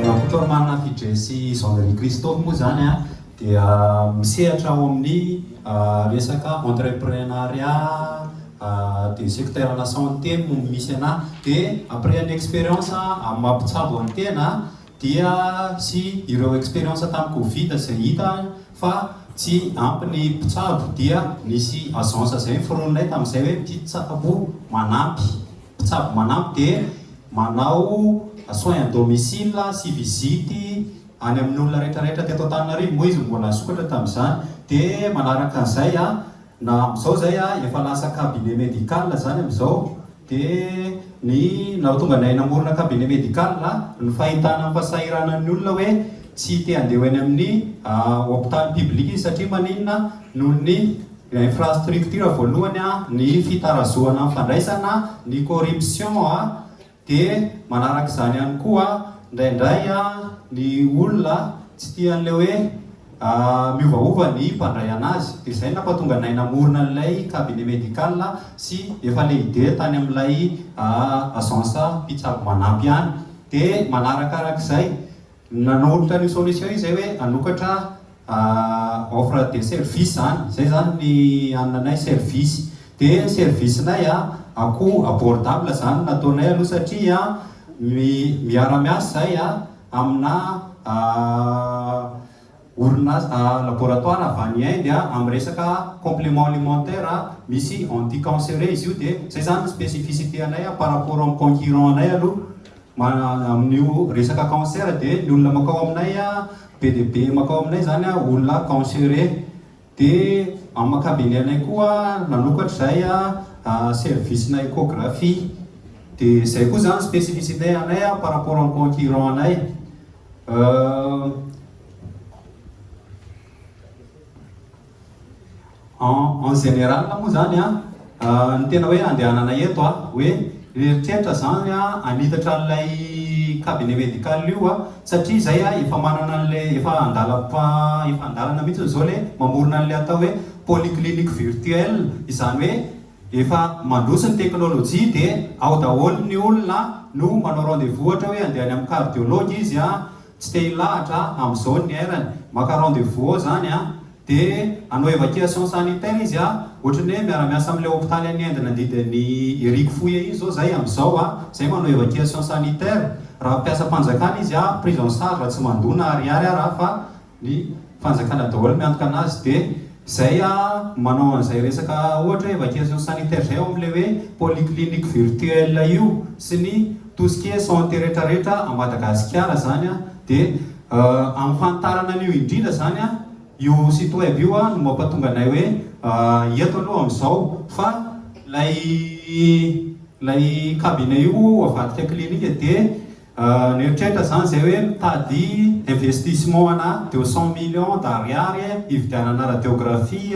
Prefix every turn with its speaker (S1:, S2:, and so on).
S1: Rakoto Amana Fidjey sy Jean Marie Christophe moa izany dia misehatra ao amin'ny resaka entreprenariat de secteur ana santé no misy anà dia après ny expérience amin'ny maha mpitsabo an'ny tena dia sy ireo experience tamin'ny covid izay hita fa tsy ampy ny mpitsabo dia nisy agence izay niforoninay tamin'izay hoe mpitsabo manampy, mpitsabo manampy dia manao soins à domicile sy visite any amin'ny olona rehetra rehetra teto Antananarivo moa izy mbola nisokatra tamin'izany dia manaraka an'izay na amin'izao izay efa lasa cabinet medical izany amin'izao. Dia ny nahatonga anay namorona cabinet médical ny fahitana ny fahasahiranan'ny olona hoe tsy te handeha ho eny amin'ny hopitaly public izy satria maninona noho ny infrastructure voalohany ny fitarazohana ny fandraisana, ny corruption dia manaraka izany ihany koa indraindray ny olona tsy tia an'ilay hoe. Miovaova ny fandraiana azy. Dia izay no nampatonga anay namorona an'ilay cabinet médical sy efa lehider tany amin'ilay agence mpitsabo manampy ihany. Dia manarakarak'izay, nanolotra an'io solution io izay hoe hanokatra offre de service izany. Izay izany ny ananay service. Dia ny service-nay akoho abordable izany no nataonay aloha satria miara-miasa izahay. amina orinasa, laboratoire avy any Inde amin'ny resaka complément alimentaire misy anti cancereux izy io dia zay zany ny spécificité anay par rapport amin'ny concurrent anay aloha amin'io resaka cancer dia ny olona makao aminay be dia be makao aminay zany olona cancereux. Dia amin'ny ankabiny anay koa nanokatra izay service na echographie. Dia izay koa izany spécificité anay par rapport amin'ny concurrent anay. En en général moa izany an. Ny tena hoe andehanana eto a, hoe mieritreritra zany hoe hanitatra an'ilay cabinet médical io a, satria izay a efa manana an'ilay efa andalam-pa efa an-dalana mihitsy izao ilay mamorona an'ilay atao hoe polyclinique virtuelle, izany hoe efa mandroso ny teknolojia dia ao daholo ny olona no manao rendez vous ohatra hoe andeha any amin'ny cardiologue izy a, tsy te hilahatra a, amin'izao ny airany, maka rendez vous ao zany a, Dia hanao evacuation sanitaire izy a! Ohatran'ny hoe miara-miasa amin'ilay hopitaly any Inde nandidy an'i Hery Kfoya iny izao izay amin'izao a! Izay manao evacuation sanitaire. Raha mpiasam-panjakana izy a, prise en charge raha tsy mandoa na ariary ary a fa ny fanjakana daholo miantoka anazy. Dia izay a, manao an'izay resaka ohatra hoe evacuation sanitaire izay ao amin'ilay hoe polyclinique virtuelle io sy ny. Tout ce qui est santé retraretra à Madagasikara zany a de amfantarana an'io indrindra zany a io site web io a no mampatonga anay hoe eto aloha amzao fa lay lay cabinet io avadika clinique de nieritreritra zany zay hoe mitady investissement ana de cent millions d'ariary hividianana radiographie